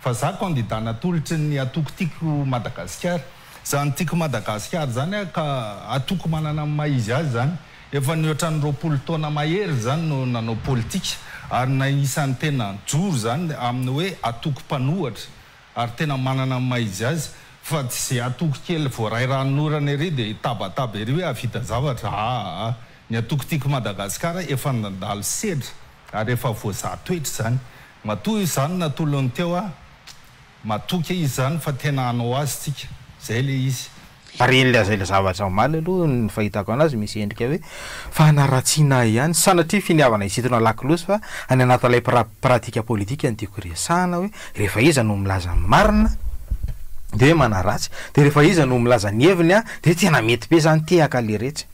Fa za candidat natolotry ny atoko tiko Madagasikara. Zany tiko Madagasikara zany aho ka atoko manana ny maha izy azy zany. Efa nihoatra ny roapolo taona mahery zany no nanao politika ary na isan'ny tena joro zany amin'ny hoe atoko mpanohatra ary tena manana ny maha izy azy fa tsy ze atoko kely voaray ranon'orana ery de hitabataba ery hoe hahavita zavatra aa. Ny atoko tiko Madagasikara efa nandalo sedra ary efa voazaha toetra zany. Matoa izany natolony teo ah. Matoky e izy zany fa tena hanao azy tsika. Zay le izy. Ary ilay zay le zavatra omaly aloha ny fahitako anazy misy endrika hoe fanaratsiana ahy ihany, sanatria finiavana hisintona lakolosy fa any anatin'ilay pra pratika politika no tiako resahana hoe rehefa iza no milaza ny marina de manaratsy de rehefa iza no milaza ny heviny an de tena mety be zany tehaka le retsy.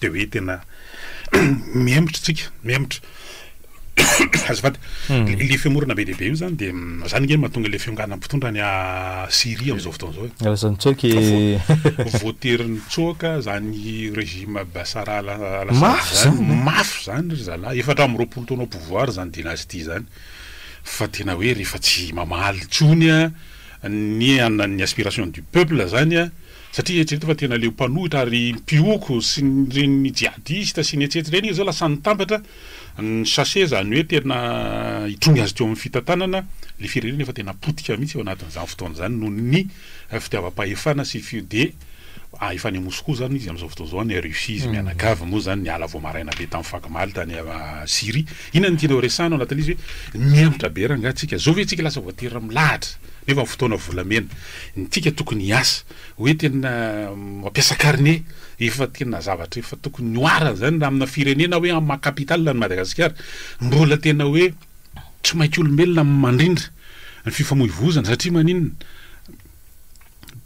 Dia hoe tena mihemotra isika, mihemotra. Azafady. Ilay fihemorana be dia be io izany dia izany ange no mahatonga ilay fionganan'ny mpitondra any Syria amin'izao fotoana izao e. Lasa nitsoaka i. Vo- Voatery nitsoaka izany régime Bashar al al-Assad Mafy izany. izany. Mafy izany ry zalahy. Efatra amby roapolo taona au pouvoir izany dynastie izany. Fa tena hoe rehefa tsy mamaly intsony an, ny an- ny aspiration du peuple izany an, Satria eritrereto fa tena leo mpanohitra ary mpihoko sy ireny jihadista sy ny etsy etsy ireny izy zao lasa nitambatra ny sachet zany hoe tena hitrongy azy teo amin'ny fitantanana le firenena efa tena potika mihitsy eo anatin'izany fotoana izany noho ny fitiavam-pahefana sy fi de efa any Moscou zany izy amin'izao fotoana izao any Russie izy mianakavy moa zany niala vao maraina be tamin'ny fakomaly tany Syrie inona no tianao resahina ao anatin'izy hoe mihemotra be rangah tsika zao ve tsika lasa voatery milahatra nefa fotoana volamena Ny antsika tokony hiasa hoe tena mampiasa karne efa tena zavatra efa tokony ho ara izany raha amina firenena hoe amin'ny maha capital an'i Madagasikara. Mbola tena hoe tsy mainka olombelona amin'ny mandrindra ny fifamoivoizana satria maninona?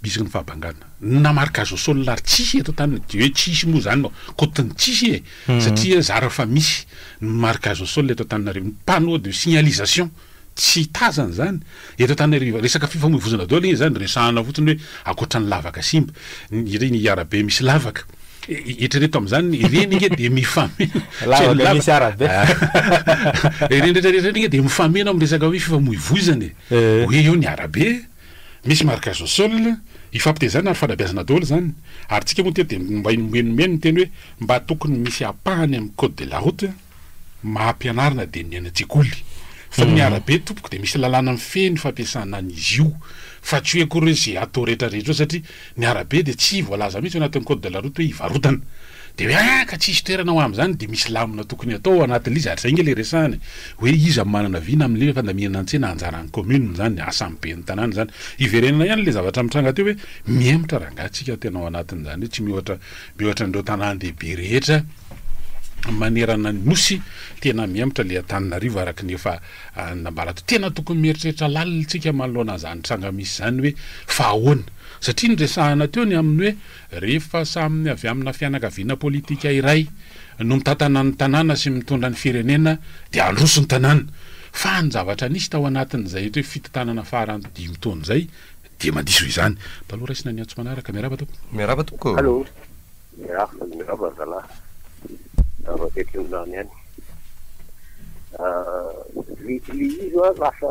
Betsaka ny fahabangana. Na marika zao sol ary tsisy eto an-taniny dia hoe tsisy moa izany no cote ny tsisy e! Satria zara fa misy ny marika zao sol eto Antananarivo. Ny panneau de signalisation Tsy tazana izany eto Antananarivo. Resaka fifamoivoizana daholo anie izany, resahana fotsiny hoe ankoatra ny lavaka simba, ireny arabe misy lavaka. Eritrereto amin'izany, ireny ange dia mifameno. Lavaka misy arabe. Ireny rehetra rehetra ireny ange dia mifameno amin'ny resaka hoe fifamoivoizana e. Hoe eo ny arabe, misy marques au sol, ifampitezana ary fanabeazana daholo izany. Ary tsika moa teto dia mba nomeny nomeny ny teny hoe mba tokony misy ampahany amin'ny code de la route. maha mpianarana dia ny any an-tsekoly fa ny arabe tompoko dia misy lalàna mifehy ny fampiasana an'izy io fa tsy hoe akory hoe izay atao rehetra rehetra eo satria ny arabe dia tsy voalaza mihitsy ao anatin'ny code de la route hoe hivarotana dia hoe ah ka tsisy toerana ho amin'izany dia misy lamina tokony hatao ao anatin'ilay izy ary izay ange ilay resahana e hoe iza manana vina amin'ilay hoe fandaminana an-tsena anjaran'ny commune izany asan'ny ben'ny tanàna izany hiverenana ihany ilay zavatra mitranga teo hoe mihemotra rangahy tsika tena ao anatin'izany hoe tsy miohatra Miohatra an'ireo tanàn-dehibe rehetra manerana ny Nosy, tena mihemotra ilay Antananarivo araka ny efa nambarako. Tena tokony mieritreritra lalina isika manoloana an'izany tranga misy izany hoe fa ahoana? Satria niresahana teo ny amin'ny hoe rehefa samy avy amina fianakaviana politika iray no mitantana ny tanàna sy mitondra ny firenena dia handroso ny tanàna. Fa ny zavatra nisy tao anatin'izay fito tanana farany dimy taona izay Dia mandiso izany. Mba aleo raisina ny antso manaraka. Miarahaba tompoko. Miarahaba tompoko. Allô, miarahaba, miarahaba zalahy, avy aty Antonirano ihany. Vigile izy an, lasa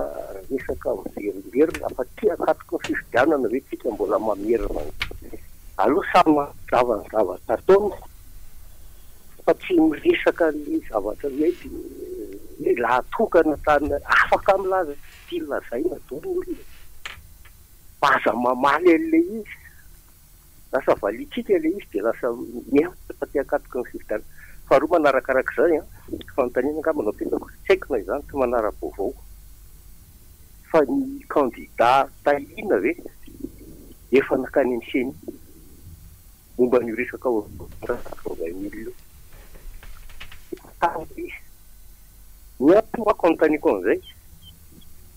resaka miverimberina, afa tsy hakatroka ny fifidianana ve tsika mbola mamerina ny. Aleo samy manazava ny zavatra ataony fa tsy miresaka ny zavatra hoe lehilahy tokana tany afaka milaza. Tiany lazaina doro olona e. Fa aza mamaly an'ilay izy. Lasa valiantsika ilay izy dia lasa mihemotra fa te hakatoky ny fifidianana. Faharoa manarakaraka izany an, fanontaniana angamba no apetrako, tsy haiko na izany tsy manara-baovao, fa ny kandida Tahina ve efa nankany amin'ny ceni? Momba an'io resaka orange quatre vingt mille io, fantaro ve? Ny ahy manko anontaniako an'izay,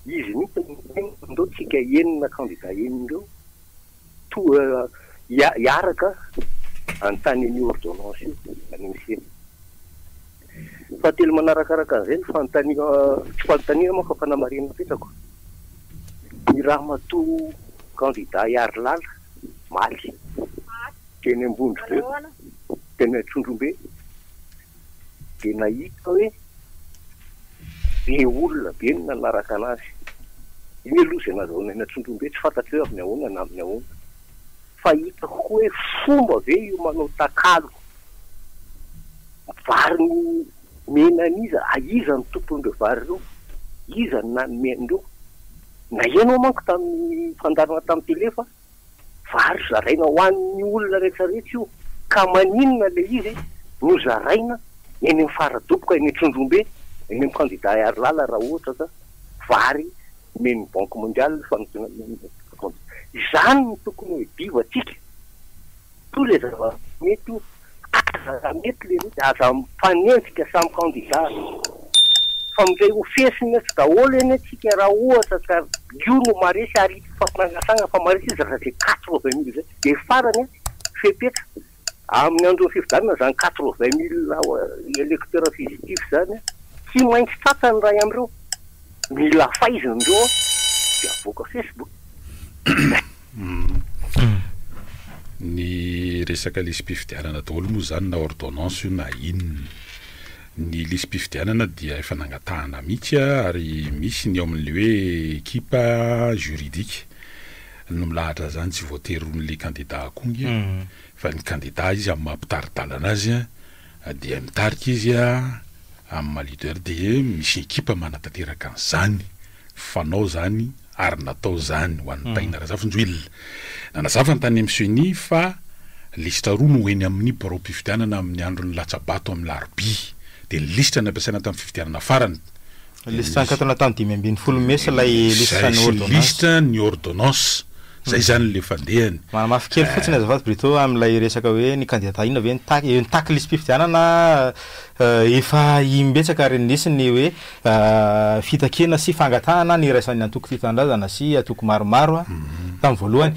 izy mihitsy no miteny fa ndao tsika enina kandida enina ireo toa hiaraka hanontany an'io ordonnance io any amin'ny ceni. Fahatelo manarakaraka an'izay no fanontaniako, tsy fanontaniana moa fa fanamarinam-petrako, i ramatoa kandida Hiarilala Omaly, teny Ambondrobe, teny Antsonjombe, dia nahita hoe be olona be ny nanaraka an'azy. Iny aloha izay nazahona eny Antsonjombe, tsy fantatro hoe amin'ny ahoana na amin'ny ahoana, fa hitako koa hoe fomba ve io manao takalo vary nomena an'iza, iza no tompon'ireo vary ireo, iza no nanome an'ireo. Naheno aho manko tamin'ny fandaharana tamin'ny tele fa vary zaraina ho an'ny olona rehetra rehetra io ka maninona ilay izy no zaraina eny amin'ny fara-doboka eny Trondrombe eny amin'ny kandida Herialala raha ohatra ka vary omen'ny banque mondiale fa izany no tokony ho hedivantsika toa ilay zava-mety io Aza raha mety le rohy de aza mifanenjika samy candidat fa mifehy ho fesina eto daholo anie tsika raha ohatra ka io no maresy ary ity fampinangasagna fa maresy izy raha zay quatre vingt mille zay de farany an fepetra aminy andro ny fifidianana zany quatre vingt mille electeur fusitif zany an tsy maintsy tratra ny ray amreo mila faizina ndreo an de avoaka facebook. Ny resaka lisi-pifidianana daholo moa izany na ordonnance io na inona. Ny lisi-pifidianana dia efa nangatahana mihitsy ary misy ny ao amin'ilay hoe ekipa juridique no milahatra izany, tsy voatery ho an'ilay kandida akony fa ny kandida izy amin'ny maha-mpitari-dalana azy, dia mitarika izy amin'ny maha leader dia misy ekipa manatanteraka an'izany, fanao izany ary natao izany ho an'i Taina Razafinjoelina. Nanazava ny tany amin'ny Ceni fa lisitra roa no eny amin'ny biraom-pifidianana amin'ny andron'ny latsa-bato amin'ny alarobia, dia ny lisitra nampiasaina tamin'ny fifidianana farany, Lisitra nikatona tamin'ny dimy ambin'ny folo mesa ilay lisitra ny ordonnance. Izay lisitra ny ordonnance. Izay izany ilay fandehany. Manamafy kely fotsiny azafady Brito amin'ilay resaka hoe ny kandidà inona ve no tac, eo ny tac lisi-pifidianana efa im-betsaka ary nisy ny hoe fitakiana sy fangatahana ny iraisan'ny antoko tia tanindrazana sy antoko maromaro tamin'ny voalohany.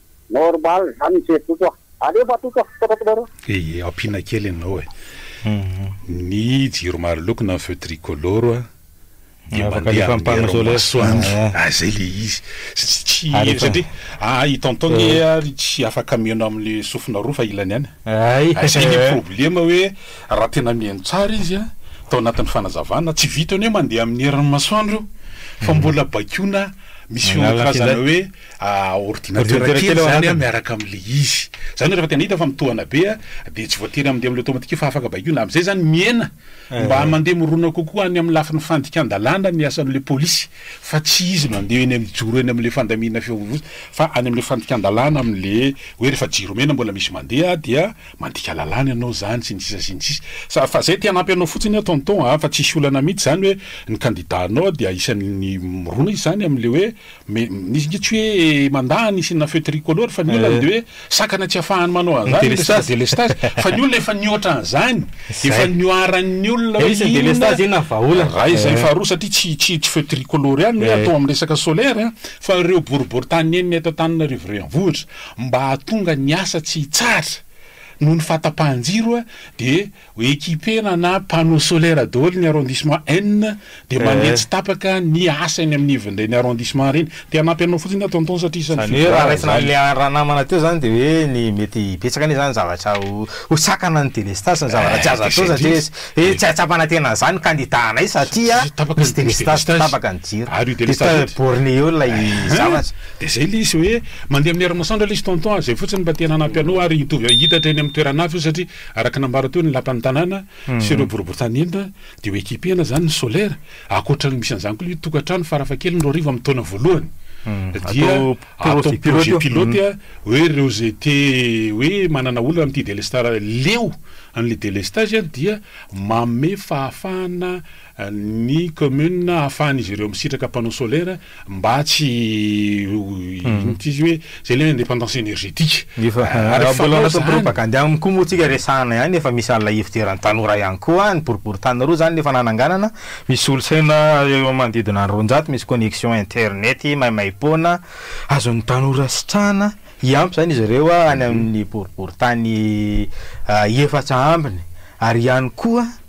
Normal zany misery Toto a. Aleo fa Toto a, Toto Maroon. Dia ampiana kely ianao e. Ny jiro maro loko na feu tricolore dia mandeha amin'ny herin'ny masoandro. Ah zay le izy. Tsy satria ah i tonton nge ary tsy afaka mihaino amin'ny sofina roa fa ilany ihany. Hay. Ah zay le problema hoe raha tena mihaino tsara izy an, tao anatin'ny fanazavana, tsy vitan'ny hoe mandeha amin'ny herin'ny masoandro io fa mbola baikoina misy feon-drazana hoe. ordinatera kely zany an miaraka amle izy zany hoe refa tena hita fa mitohana be an de tsy voatery amde amle automatique io fa afaka baikoina amzay zany mihena mba mande mirona kokoa any amle lafiny fandikan-dalàna ny asanle polisy fa tsy izy no ande eny mijoro eny amle fandaminana fifamoivoizana fa any amle fandikan-dalàna amle hoe refa jiro mena mbola misy mandeha dia mandika lalàna ianao zany sy ny sisa sy ny sisa sa fa zay te hanampy anao fotsiny an tonton an fa tsisy olana mihitsy zany hoe ny kandida anao dia isan'ny mirona izy zany amle hoe Mais izy nge tsy hoe mandà ny signe feu tricolore fa ny olana dia hoe sakana tsy afahany manao an'zany ny resaka delestage fa ny olona efa nihoatra an'zany efa nihoaran'ny olona hoe inona raha izay faharoa satria tsy tsy tsy feu tricolore ihany hoe atao amin'ny resaka solaire a fa ireo boriboritany nenina eto Antananarivo renivohitra mba hahatonga ny asa tsy hitsahatra noho ny fahatapahan-jiro dia Hoe ekipena na panneau solaire daholo ny arrondissement N dia mandeha tsy tapaka ny asa eny amin'ny ivon'ireny arrondissement ireny. Te hanampy anao fotsiny aho tonton satria isan'ny Izany hoe raha fivoarana raisina izany. an'ilay ranamana teo izany dia hoe ny mety hibetsaka anie izany ny zavatra ho ho sakana ny délestage sy ny zavatra tsy Eh, azo dia atao izay satria indrindra. hoe Dia- tsy ahatsapana tena an'izany ny candidat anay satria Satria tapaka misy ny délestage, délestage. tapaka ny jiro. Ary io Dia délestage ta- io dia- borné eo ilay Hein? zavatra. Dia izay ilay izy hoe mandeha amin'ny herin'masoandro ilay izy tonton a, izay fotsiny mba te hanampy anao ary hitovy hitatra eny amin'ny toerana avy io satria Araka ny nambara teo ny lapan'ny tanàna sy ireo boriborintany entina dia ho ekipe-na izany ny solaire, ankoatra ny misy an'izany koa ilay tokantrano farafahakeliny roa arivo amin'ny taona voalohany dia atao projet pilote hoe ireo izay te hoe manana olana amin'ity delestar leo an'ilay delestage dia manome fahafahana ny commune ahafahan'izy ireo misitraka panneau solaire mba tsy ho inona ity izy hoe izay ilay indépendance énergétique. Efa ary mbola lasa propagande aminy koa moa tsika resahana ihany efa misy alina ifidiran'ny tanora ihany koa any boriboritany roa zany le efa nananganana misy solosaina eo manodidina ny roanjato misy connexion internet maimaimpoana azon'ny tanora sitrahana hiampy zany izy ireo any amin'ny boriboritany efatra ambiny ary ihany koa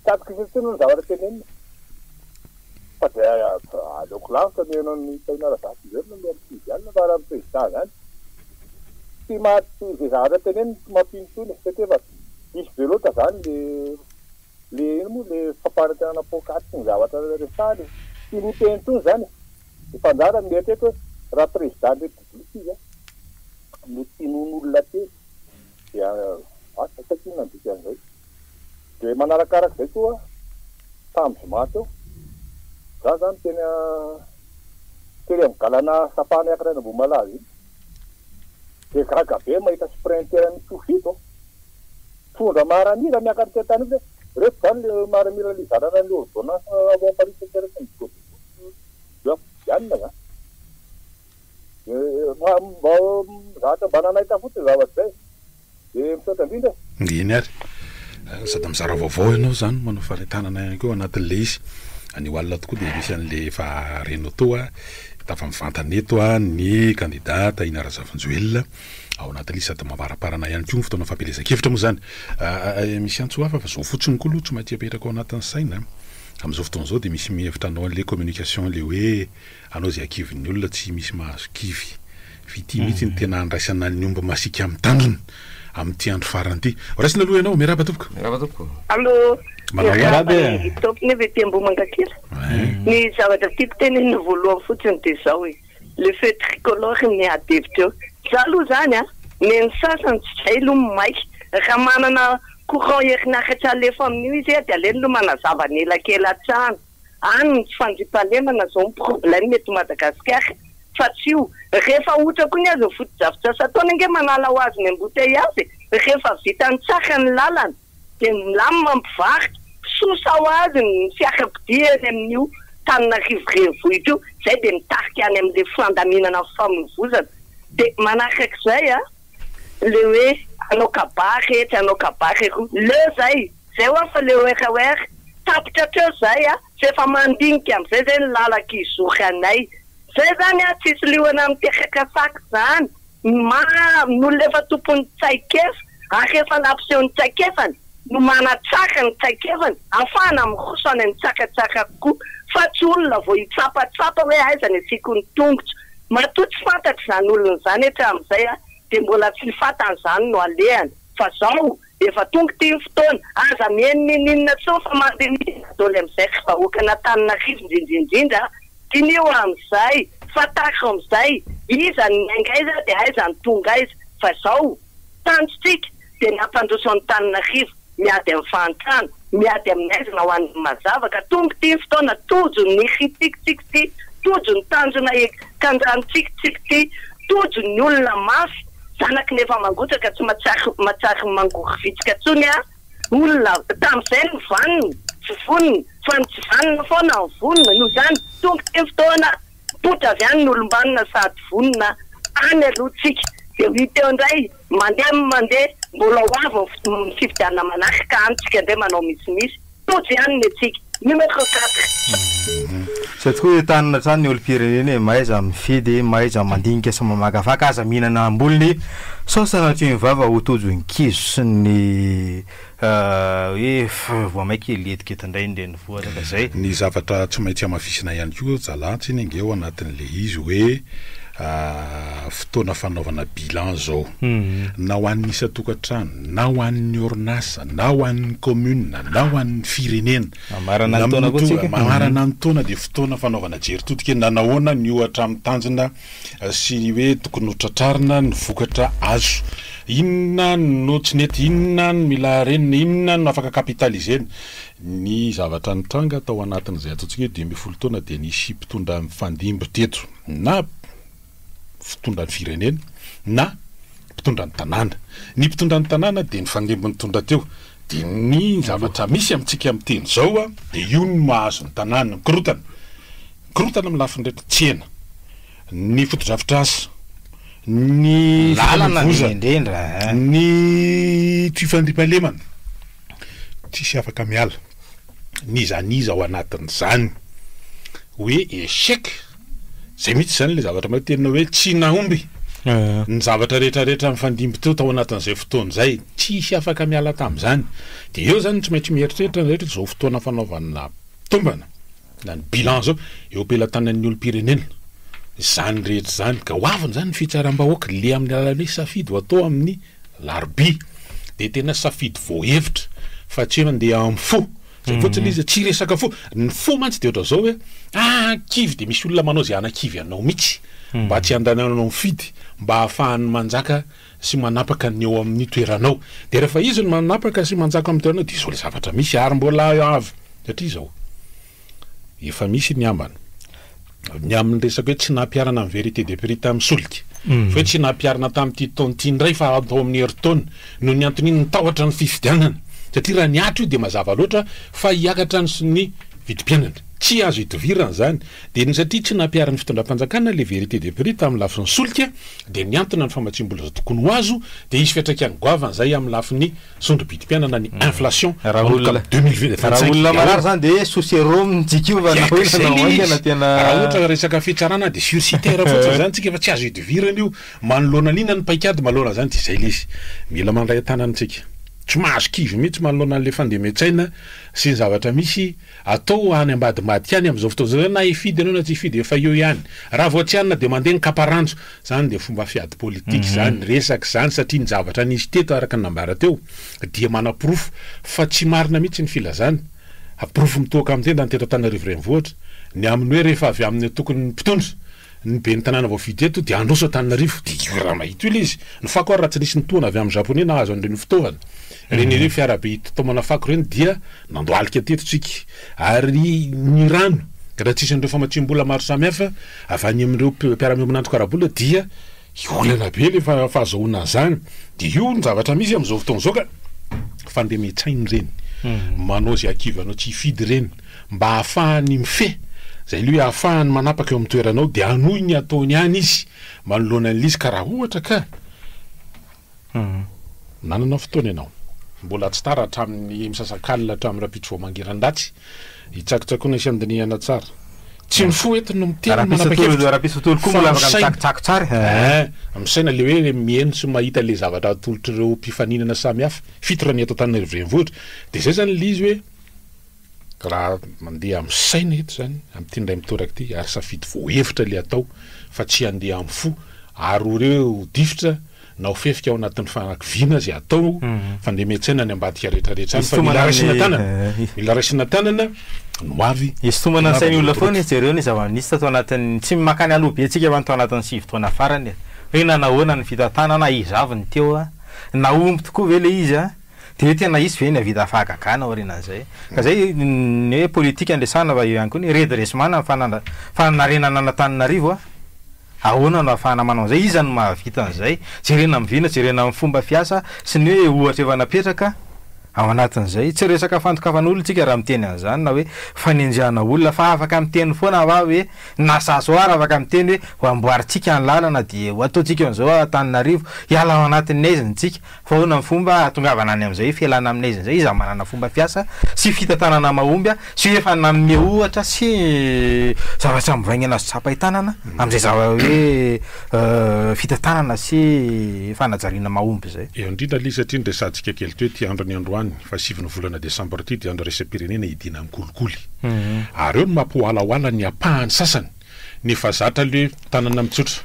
Tsy azoko izay intsony ny zavatra tenenina fa dia aleoko lavitra ny heno an'i Tahina Razafimberina mihoan'i Sivy alina fa raha ny Président izany tsy maty izay zavatra teneniny tsy mampino intsony e, satria efa diso be loatra izany le le ino moa le fampanantenana poakaty sy ny zavatra resahany e, tsy miteny intsony izany e, efa anjara ny mieritreritra hoe raha Président ny République izy a, mety hinoan'olona teny. dia asa tsy aiko inona ny dikan'izay. Dia manarakaraka izay koa tamin'ny zoma teo, izaho izany teny tery amin'ny galana Sapana hiakatra any Ambohimalaza iny, dia gaga be aho mahita sprinter an'i Tsoufik ô, mitondra maramila miakatra ety an-tany ety, ireto izany ilay maramila nizarana ny ordonnance loi paris sept heures sy ny godrogodro, dia hoe ampodianina izany. Fa mba mizatra mba nanaiky fotsiny zavatra izay dia misaotra indrindra. Eny ary. Sady mizara vaovao ianao zany manao fanentanana ihany koa anatin'ilay izy. Anio alina tokoa dia misy an'ilay efa renao teo a, tafa mivantana eto a, ny kandida Tahina Razafinjoelina ao anatin'io sady mamaramparana ihany koa ny fotoana fampielezan-kevitra moa izany. Misy antso hafa fa izao fotsiny koa aloha tsy maintsy apetraka ao anatin'ny saina. Amin'izao fotoana izao dia misy mihevitra hanao an'ilay communication ilay hoe. Anao izay akivon'ny olona tsy misy mahazo kivy. Fitia mihitsy ny tena handraisana ny omby masiaka amin'ny tandrony amin'ity andro farany ity. Horaisina aloha ianao. Miarahaba tompoko. Miarahaba tompoko. Allo, miarahaba an'i Top nefa ety Ambohimangakely. Ny zavatra tiako tenenina voalohany fotsiny dia izao e, le feu tricolore niady hevitra eo. Za aloha izany an, nen'ny sasany tsy izay aloha ny maika. Raha manana courant herinaratra alefa amin'io izy dia aleony aloha manazava ny elakela hatrany. any ny tsy fandriampahalemana zao ny problème eto Madagascar fa tsy io rehefa ahotra koa ny azy ny fotodrafitrasa ataony ange manala ho azy ny embouteillage e rehefa vitany tsara ny lalana dia milamina ny mpivarotra sosa ho azy ny fiarakodia eny amin'io Tananarivo renivohitra io zay dia mitarika any amin'ilay fandaminana ny famoivozana dia manarak'izay an le hoe hanao kabary rehetra hanao kabary eroa leo zay Zay hoa fa le werewer tapitra hatreo zay a! Fa efa mandinika amzay zay ny lalaka izory anay. Zay zany a tsisy liona miteraka sac zany ma ny olona efa tompon'ny tsaikefa ary efa nampiseho ny tsaikefany no manatsara ny tsaikefany afahana miroso any amin'ny tsaka tsara kokoa fa tsy olona vao hitsapatsapa hoe aiza ny asiako ny tongotro. Matoa tsy fantatra izany olona izany hatramin'izay a dia mbola tsy ny fatany izany no alehany fa zao Efa tonga ity ny fotoana, aza mihaino ninoninona intsony fa mandiniha ny dadaoly amin'izay ry vahoakan'Antananarivo indrindra indrindra a! Diniho amin'izay, fantaro amin'izay, iza no niainga aiza dia aiza no tonga aiza, fa izao, tanjontsika dia ny hampandroso an'Antananarivo, miady amin'ny fahantrana, miady amin'ny aizina ho an'ny mazava ka tonga ity ny fotoana, tojo ny ritsikitsika ity, tojo ny tanjona hiakanjantsika ity, tojo ny olona mafy. Zanaky ny efa mangotraka tsy matsary matsary mangory vitsika tsony a olona tamizay ny vanona tsy vonona fa ny tsy vanona foana no vonona noho izany tonga ity fotoana mipoitra avy any ny olombanona sady vonona any aloha tsika dia ho hita eo indray mandeha mandeha mbola ho avy ny fifidianana manaraka any tsika indray manao misimisy. Tojo ihany ny antsika. Numéro quatre. Izay tokoa io tanana hatrany ny olom-pirenena e, mahaiza mifidy, mahaiza mandinika sy mamakafaka, aza mihinana ambolony sao sanatria ny vava ho tojo ny kizo sy ny hoe voa maika hiletikety indray ny renivohitra ka izay. Ny zavatra tsy maintsy hamafisina ihany koa zalahy tsinona ange ao anatin'ilay izy hoe fotoana fanaovana bilan izao na ho an'ny isan-tokantrano, na ho an'ny orinasa, na ho an'ny kaominina, na ho an'ny firenena. Mamarana ny taona koa tsika. Mamarana ny taona dia fotoana fanaovana jery todika hoe nanahoana ny ohatra amin'ny tanjona sy ny hoe tokony ho tratrarina ny vokatra azo. Inona no tsy nety, inona no mila harenina, inona no afaka capitaliser-na. Ny zavatra nitranga tao anatin'izay ataontsika hoe dimy ambin'ny folo taona dia nisy mpitondra mifandimby teto na. fitondran'ny firenena na mpitondra ny tanàna. Ny mpitondra ny tanàna dia ny fandimby nitondra teo. Dia ny zavatra misy amintsika amin'ny teny izao a. Dia io no mahazo ny tanàna ny korontana. Ny korontana amin'ny lafiny rehetra, tsena, ny fotodrafitrasa, ny fifamoivoizana, ny fifandriam-pahalemana, tsisy afaka miala n'iza n'iza ao anatin'izany hoe échec. Zay mihitsy izany ilay zavatra mety teninao hoe tsy nahomby ny zavatra rehetra rehetra nifandimby teo tao anatin'izay fotoana izay, tsisy afaka miala tamin'izany. Dia eo izany tsy maintsy mieritreritra ny rehetra izao fotoana fanaovana tombana na ny bilan izao eo am-pelatanan'ny olom-pirenena izany rehetra izany. Ka ho aviny izany ny fitsaram-bahoaka le amin'ny alalan'ny hoe safidy ho atao amin'ny larobia. Dia tena safidy voahevitra fa tsy hoe mandeha amin'ny fo. Zay fotsiny izy, tsy resaka fo, ny fo mantsy dia ohatran'izao hoe ah kivy dia misy olona manao izay hanakivy anao mihitsy mba tsy handananao mifidy mba hahafahany manjaka sy manapaka ny eo amin'ny toeranao dia rehefa izy no manapaka sy manjaka amin'ny toeranao dia izao ilay zavatra misy ary mbola avy hatrizao efa misy ny ambana. ny amin'ny resaka hoe tsy nampiharana ny vérité de prix tamin'ny solika, fa hoe tsy nampiharina tamin'ity taona ity indray fa atao amin'ny herintaona, noho ny antony inona, ny tahotra ny fifidianana, satria raha ny atra io dia mazava loatra fa hiakatra ny ny vidim-piainana, tsy azo idivirana izany, dia ny satria tsy nampiharin'ny fitondram-panjakana ilay vérité de prix tamin'ny lafiny solika dia niantona ny famatsiam-bola izay tokony ho azo, dia hisy fiantraikany goavana izay amin'ny lafiny sondro-bidim-piainana ny inflation manomboka amin'ny deux mille vingt cinq. Raha olona marary izany dia sous serum ny jikiova na ahoana na ahoana tena. Raha ohatra resaka fitsarana dia sur citer fotsiny izany tsika fa tsy azo idivirana io. Manoloana an'inona ny paikady manoloana izany dia izay ilay izy. Mila mandray an-tanana tsika. Tsy mahazo kivy mihitsy manoloana an'ilay fandemen-tsaina sy ny zavatra misy. Atao any ambadimbadika any amin'izao fotoana izao zany na hifidy ianao na tsy hifidy efa eo ihany. Raha vao tsy hanina dia mandeha ny kapa ranjo. Izany dia fomba fiady politika izany resaka izany satria ny zavatra nisy teto araka ny nambara teo dia manaporofo fa tsy marina mihitsy ny filazana. Porofo mitohoka amin'ny tenda ny teto Antananarivo Renivohitra ny amin'ny hoe rehefa avy amin'ny antokon'ny mpitondra Ny ben'ny tanàna voafidy eto dia handroso Antananarivo. Dia io rama ito ilay izy. Ny fako ary raha tsy nisy nitohana avy amin'ny Japoney nahazo an'ireny fitaovana ireny, ireny fiara be itaomana fako ireny dia nandohalika teto tsika. Ary ny rano raha tsy hisy an'ireo famatsiam-bola maro samihafa avy any amin'ireo mpiara-miombona antoka ara-bola dia olana be ilay fahazoana an'izany. Dia io ny zavatra misy amin'izao fotoana izao ka. Fa andeha mecain ireny. Manao izay hakivanao tsy hifidy ireny. mba hahafahany mifehy, izay loha hahafahany manapaka eo amin'ny toeranao dia hanohy ny ataony any izy manoloana an'ilay izy ka raha ohatra ka nanana fotoana ianao. Mbola tsy tara hatramin'ny misasakalina hatramin'ny rahampitso vao mangiran-datsy hitsakotsakoana sy handinihana tsara. Tsy ny fo eto no miteny manapa-kevitra fa saina. Misaina ilay hoe miheno sy mahita ilay zavatra atolotr'ireo mpifaninana samihafa, fito raha ny eto Antananarivo Renivohitra, dia izay izany ilay izy hoe, Raha mandeha amin'ny saina eto izany, amin'ity indray mitoraka ity, ary safidy voahevitra ilay atao fa tsy handeha amin'ny fo, ary ho re ho difotra na ho fefika ao anatin'ny fanakiviana izay atao, fa andeha miantsaina ny ambadika rehetrarehetra any, fa mila raisina tanana, mila raisina tanana ny ho avy. Isintomana ny sain'ny olona foana izy, jereo ny zava-nisy tato anatin'ny, tsy makany aloha be tsika fa ny tao anatin'ny sivy taona farany e, hoe nanahoana ny fitantanana, iza avy ny teo, nahomby tokoa ve ilay izy? Dia hoe tena hisy ve ny hahavita fahagagana aorianan'izay? Ka izay ny hoe politika no resahana fa eo ihany koa ny redressement na ny fanandra- fanarenana an'Antananarivo a! Ahoana no ahafahana manao an'izay? Iza no mahavita an'izay? Jerena amin'ny vina, jerena amin'ny fomba fiasa sy ny hoe ohatra efa napetraka ao anatin'izay. Tsy resaka fandokafana olona isika raha miteny an'izany na hoe fanenjehana olona fa afaka miteny foana va hoe na za zao ary afaka miteny hoe ho amboarintsika ny lalana dia ho ataontsika an'izao Antananarivo, hiala ao anatin'ny haizina isika. Fa ahoana ny fomba hahatongavana any amin'izay fialana amin'ny aiza indray, izaho manana fomba fiasa sy fitantanana mahomby sy efa nanome ohatra sy zavatra mivaingana azo tsapain-tanana amin'izay zava hoe fitantanana sy fanajariana mahomby izay. Eo indrindra aloha izy satria niresahantsika kely teo ity andro niandohany fa sivy ny volana desambra ity dia andro iraisam-pirenena idianan'ny kolikoly. Ary eo no mampihoalahoala ny ampahany sasany nefa zatra aloha hoe tanana mitsotra.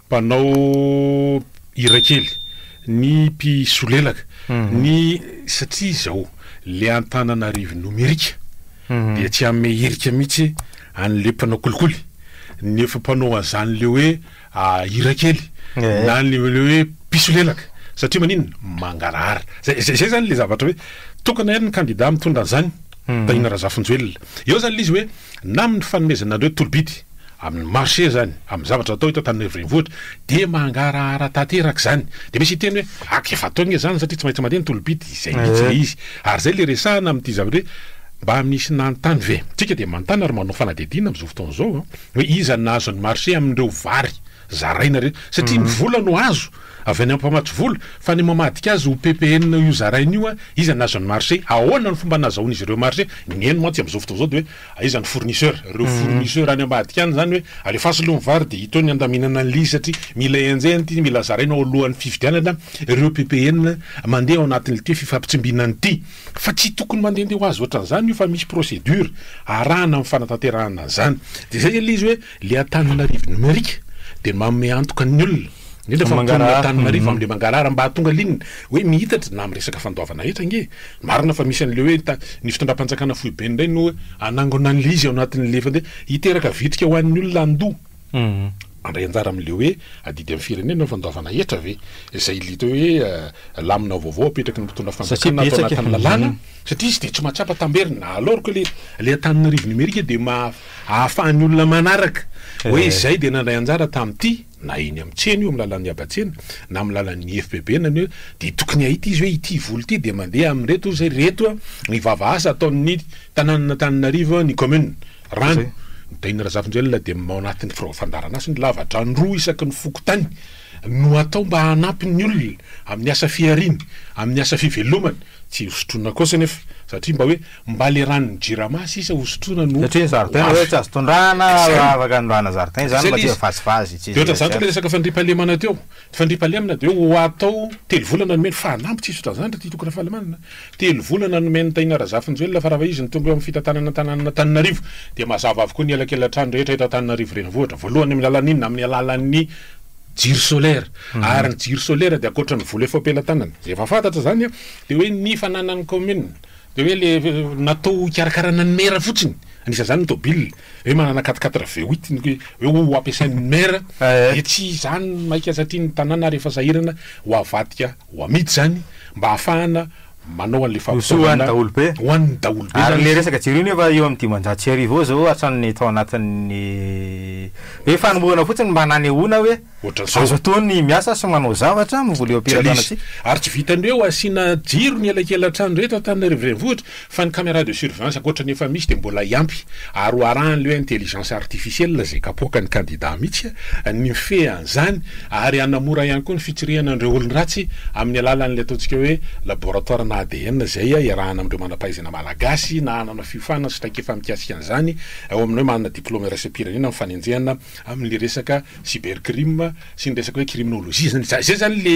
mpanao hira kely, ny mpisolelaka, ny satria izao le Antananarivo nomerika dia tsy hanome hirika mihitsy an'le mpanao kolikoly, ny efa mpanao an'zan'le hoe hira kely na ny le hoe mpisolelaka satria maninona? mangarahara. Zay zay zany le zavatra hoe tokana ihany ny kandida mitondra an'zany, Tahina Razafinjoelina. Eo zany le izy hoe. na amin'ny fanomezana an'ireo tolobidy amin'ny marché izany, amin'ny zavatra atao eto Antananarivo Renivohitra dia mangarahara tanteraka izany. Dia misy hiteny hoe, aka efa atao anie izany satria tsy maintsy mandeha ny tolobidy, izay mihitsy ilay izy. Ary izay ilay resahana amin'ity zavatra hoe, mba misy nanontany ve? Isika dia manontany ary manao fanadihadiana amin'izao fotoana izao hoe, iza no nahazo ny marché amin'ireo vary zaraina ireny? Satria ny vola no azo. Avy any ampamatsy vola fa ny mamadika azy ho ppn io zarainy io a, iza no azo ny marché, ahoana ny fomba nazahoan'izy ireo marché, ny eny mantsy amin'izao fotoana izao dia hoe aiza ny fournisseur, ireo fournisseur any ambadika any izany hoe alefaso aloha ny vary dia ito ny handaminana an'ilay izy satria mila enjehina ity, mila zaraina ao alohan'ny fividianana ireo ppn mandeha ao anatin'ity fifampitsimbinana ity, fa tsy tokony mandehandeha ho azy ohatran'izany io fa misy procédure arahana amin'ny fanatanterahana an'izany, dia izay ilay izy hoe. Ilay Antananarivo Nomerika dia manome antoka ny olona, indrindra fa ny mponin'i Antananarivo amin'ilay mangarahara mba hahatonga ligne hoe mihitatra na amin'ny resaka fandoavana hetra ange. Marina fa misy an'ilay hoe ny fitondram-panjakana foibe indray no hanangona an'ilay izy ao anatin'ilay efa dia hiteraka vitrika ho an'ny olona handoa. Handray anjara amin'ilay hoe adidy amin'ny firenena ny fandoavana hetra ve? Izay ilita hoe lamina vaovao apetraky ny mpitondra fanjakana ato anatin'ny lalàna satria izy dia tsy mahatsapa tamberina. Alorka ilay Antananarivo Nomerika dia maha. ahafahan'ny olona manaraka hoe izay dia nandray anjara tamin'ity na eny amin'ny tsena io, amin'ny lalan'ny haba-tsena na amin'ny lalan'ny IFPB na ny hoe dia tokony hahita izy hoe ity vola ity dia mandeha amin'ireto hoy ireto ny vava asa ataon'ny tanànan'Antananarivo ny commune rano Ntahiana Razafinjoelina dia ao anatin'ny firao fandaharanasa ny lavadrano roa isaky ny fokontany no atao mba hanampy ny olona amin'ny asa fihariana amin'ny asa fivelomana tsy hosotroina kosa anefa satria mba hoe Mba le ranon'ny jirama sisa hosotroina no Satria ny zaridaina hoe tsy azo tondrahana raha afaka anondrahana zaridaina izany mba tsy hoe vazivazy tsy De ohatra izany koa ny resaka fandriampahalemana teo. Fandriampahalemana dia hoe ho atao telo volana nomeny fa anambo tsy hisy otran'izany ry Tito Rafalimanana. Telo volana nomen'i Tahiana Razafinjoelina fa raha vao izy no tonga eo amin'ny fitantanana an-tanànan'Antananarivo dia mazava avokoa ny elakelan-trano rehetra eto Antananarivo Renivohitra. Voalohany amin'ny alalan'ny inona? Amin'ny alalan'ny jiro solaire. Ary ny jiro solaire dia ankoatra ny vola efa am-pelatanana, izay efa fantatra izany an, dia hoe ny fananan'ny kaominina Dia hoe le natao hikarakarana ny maire fotsiny, anisan'izany ny tôbily, hoe manana quatre quatre V8 ny hoe ho hampiasain'ny maire, dia tsy izany maika satria ny tanàna ary efa sahirana ho avadika ho amidy izany mba ahafahana manao an'ilay fampitaovana ho an'ny daholobe, ho an'ny daholobe izany. Ary ilay resaka jiro io nefa eo amin'ny dimanjato sy arivo eo izao hatramin'ny tao anatin'ny hoe fanombohana fotsiny mba nanehoana hoe. ohatran'izao. Azo atao ny miasa sy manao zavatra amin'ny vola eo am-piratranantsika. Ary tsy vitan'ny hoe ho asiana jiro ny elakelan-trano rehetra ao Antananarivo Renivohitra fa ny caméra de surveillance ankoatra ny efa misy dia mbola hiampy ary ho arahan'ilay hoe intelligence artificielle izay kapoakan'ny kandida mihitsy ny mifehy an'izany ary hanamora ihany koa ny fitsirihana an'ireo olon-dratsy amin'ny alalan'ilay ataontsika hoe laboratoirana ADN izay iarahana amin'ireo manam-pahaizana malagasy na hanana fiofanana sy traikefa mikasika an'izany ao amin'ny hoe manana diplaoma iraisam-pirenena amin'ny fanenjehana Amin'ilay resaka cybercrime sy ny resaka hoe criminologie zany, za- zay zany le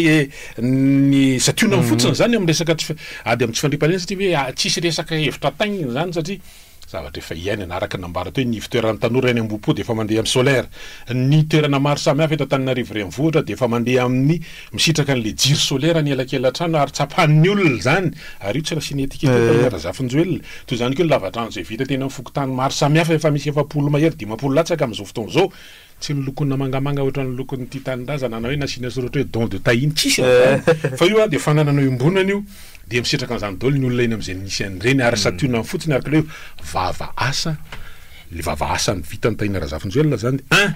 ny santionany fotsiny zany amin'ny resaka tsy fi- ady amin'ny tsy fandriampahalemana satria hoe ah, tsisy resaka hevitra taingina zany satria zavatra efa iainana, araka ny nambara teo, ny ivon-toeran'ny tanora eny Ambohipo dia efa mandeha amin'ny solaire, ny toerana maro samihafa eto Antananarivo Renivohitra dia efa mandeha amin'ny Misitraka an'ilay jiro solaire ny elakelan-trano ary tsapan'ny olona izany ary io tsy nasiana étiquette io Tahiana Razafinjoelina. Toy izany koa ny lava-drano izay vita teny amin'ny fokontany maro samihafa efa misy efapolo mahery dimampolo latsaka amin'izao fotoana izao. Tsy nolokoina mangamanga ohatran'ny lokon'ity tanindrazana na hoe nasiana soratra hoe don de Tahiana, tsisy an'izany fa io dia fananana iombonana io dia misitraka an'izany daholo ny olona eny amin'izay misy an'ireny ary santionany fotsiny ary k'ilay hoe vava asa Le vava asany vita ny Tahiana Razafinjoelina zany un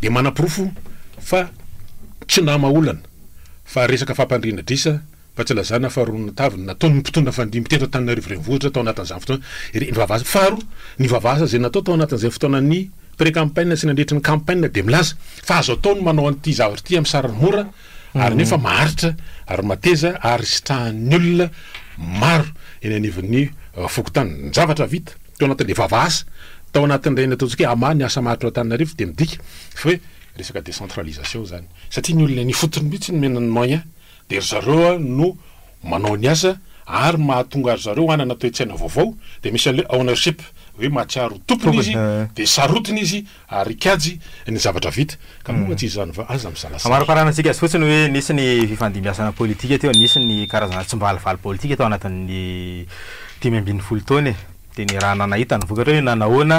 de manaporofo fa tsy nama olana fa resaka fampandriana adrisa fa tsy lazana fa ronona taviny nataon'ny mpitondra fandimby teto Antananarivo Renivohitra tao anatin'izany fotoana iry ny vava asany faharoa ny vava asa zay natao tao anatin'izay fotoanan'ny pré campagne sy nandritry ny campagne de milaza fa azo atao ny manao an'ity zavatra ity amin'ny sarany mora ary nefa maharitra ary mateza ary sitrahan'ny olona maro eny anivon'ny fokontany ny zavatra vita tao anatin'ilay vava asa tao anatin'ireny ataontsika hoe ama ny asa maharitra ao Antananarivo dia midika fa hoe resaka décentralisation izany satria ny olona eny ifotony mihitsy no omena ny moyen dia ry zareo no manao ny asa ary mahatonga ry zareo hanana toe-tsaina vaovao dia misy an'ilay ownership hoe mahatsiaro ho tompony izy dia sarotiny izy Ary kajy ny zavatra vita. Ka moa tsy izany va? Aza misalasala. Hamariparana antsika azy fotsiny hoe nisy ny fifandimbiasana politika teo, nisy ny karazana tsimbalivaly politika tao anatin'ny dimy ambin'ny folo taona e! Dia ny raha nanahita ny vokatra hoe nanahoana?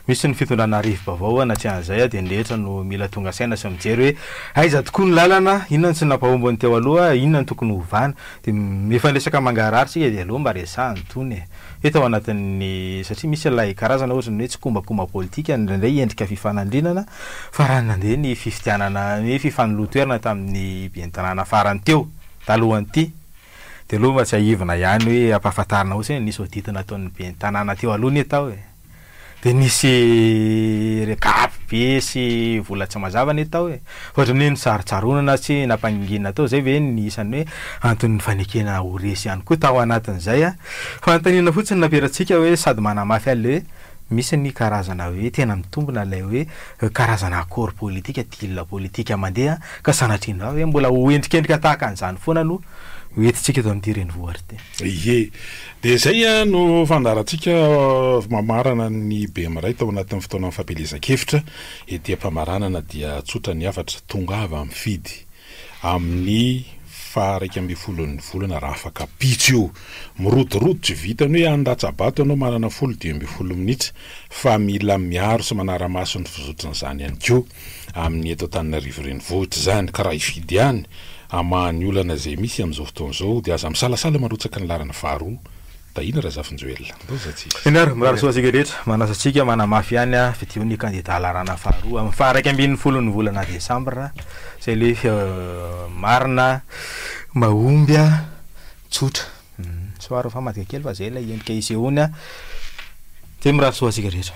Misy ny fitondrana rivo-baovao an, atsy an'izay dia ny rehetra no mila tonga saina sy mijery hoe aiza tokoa ny lalana? Inona no tsy nampahomby ny teo aloha? Inona no tokony hovana? Dia mifanesaka mangarahara tsika dia aleo mba resahana itony e! Hita ao anatin'ny, satria misy ilay karazana ohatry ny hoe tsikombakomba politika indraindray endrika fifanandrinana, fa raha nandeha ny fifidianana, ny fifanoloan-toerana tamin'ny ben'ny-tanàna farany teo, talohan'ity, dia aloha mba tsiahivina ihany hoe ampahafantarina fotsiny hoe nisy audit nataon'ny ben'ny-tanàna teo aloha anie tao e! Dia nisy regard be sy vola tsy mazava anie tao e! Ohatran'ny hoe nosarontsaronana sy nampangingiana tao izay ve ny isan'ny hoe anton'ny fanekena ho resy ihany koa tao anatin'izay an! Fanontaniana fotsiny nampiaratsika hoe sady manamafy an'ilay hoe misy ny karazana hoe tena mitombina ilay hoe karazana accord politika, deal politika mandeha ka sanatria andrao ve mbola ho endrikendrika tahaka an'izany foana no ho entintsika eto amin'ity renivohitra ity. Ie, Dia izay no fandaharantsika mamarana ny bemiray tao anatin'ny fotoanan'ny fampielezan-kevitra. Ety am-pamaranana dia tsotra ny hafatra, tongava mifidy amin'ny faha iraika ambin'ny folon'ny volana raha afaka pitso io. Mirodorodo tsy vitan'ny hoe any Ratsabato ianao manana folo dimy ambin'ny folo minitra fa mila miaro sy manara-maso ny fizotran'izany ihany koa. amin'ny eto Antananarivo Renivohitra izany ka raha hifidy ihany hamaha ny olana izay misy amin'izao fotoana izao dia aza misalasala marotsaka ny laharana faharoa, Tahina Razafinjoelina. Ambohizatsika. Eny ary, mirary soa antsika rehetra. Manasa antsika manamafy ihany ny fidian'ny kandida laharana faharoa amin'ny faha-iraika ambin'ny folon'ny volana desambra izay ilay marina mahomby. Tsotra. Soaro fa madika kely fa zay ilay endrika isehoany a. Dia mirary soa antsika rehetra.